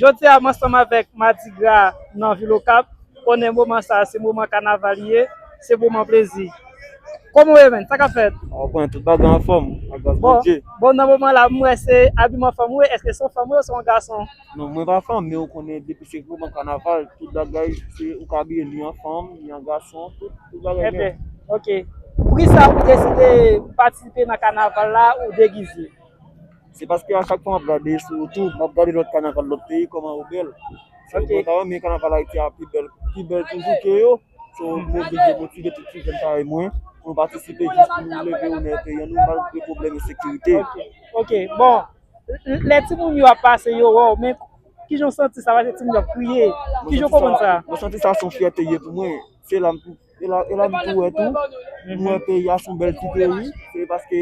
Jodi a m ansanm avèk Madi Gra nan vil Okap konnen moman sa se moman kanaval li ye, se moman plezi. Kòman w ye menn? Sa k ap fèt? Ou konn tout bagay anfòm ak gras Bondye. Bon nan moman la m wè se abiman fanm ou ye, èske se yon fanm ou ye oswa yon gason? Non mwen pa fanm men ou konnen depi se moman kanaval tout bagay se ou ka abiye ni an fanm ni an gason tout bagay nèt. Enben ok. Poukisa ou deside patisipe nan kanaval la ou degize? Se paske a chak fwa map gade sou youtube map gade lòt kanaval lòt peyi kòman yo bèl so mwen ta renmen kanaval ayiti a pi bèl pi bèl toujou ke yo so mwen vle motive tout ti jèn parèy mwen pou nou patisipe jis pou nou leve onè peyi a nou malgre pwoblèm ensekirite ok bon lè timoun yo ap pase yo wè w men kijan w santi sa paske timoun yo ap kriye kijan w konprann sa mwen santi sa son fyète ye pou mwen se la m E la e la m tou wè tou m wè peyi a s on bèl ti peyi se paske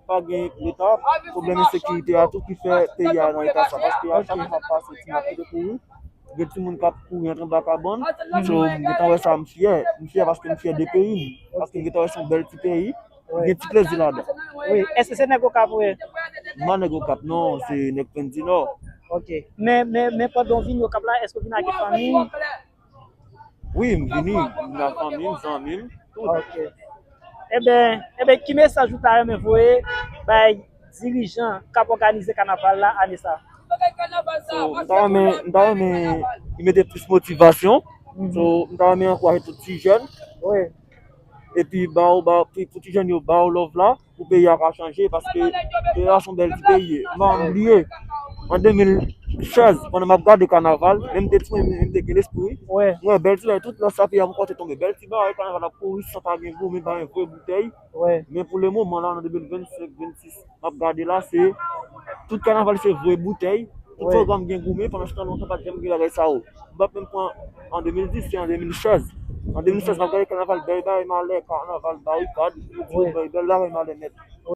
pa gen leta pwoblèm ensekirite a tou ki fè peyi a nan eta sa paske a chak jou m ap pase ti map kite kouri gen timoun k ap kouri antre anba kabann so m gentan wè sa m fyè m fyè paske m fyè de peyi m paske m gentan wè s on bèl ti peyi gen ti plezi ladan wi èske se nèg okap ou ye? m pa nèg okap non se nèg plenndinò ok men men men pandan w vini okap la èske w vini ak fanmi? Wi m vini m vini ak fanmi m zanmi m tout. Ok eben eben ki mesaj ou ta renmen voye bay dirijan kap òganize kanaval la ane sa? So m ta renmen m ta renmen yo mete plis motivasyon so m ta renmen ankouraje tout ti jèn epi baw baw pou ti jèn yo baw love la. pou peyi a ka chanje paske peyi a son bèl ti peyi mwen m bliye an 2016 pandan m ap gade kanaval lè m te ti moun m te gen lespri m wè bèl ti bagay tout lòt sa peyi a pou kòt te tonbe bèl ti bagay kanaval ap kouri san pa gen goumi pa gen vre boutèy men pou le moman la an 2025 26 m ap gade la se tout kanaval se vre boutèy tout pwogram gen goumi pandan se tan lontan pa t janm gen bagay sa yo. m pa t menm pran an 2010, se an 2016. An 2016 m ap gade kanaval bèy bagay malè, kanaval barikad, m di yo bèy bèl bagay malè nèt.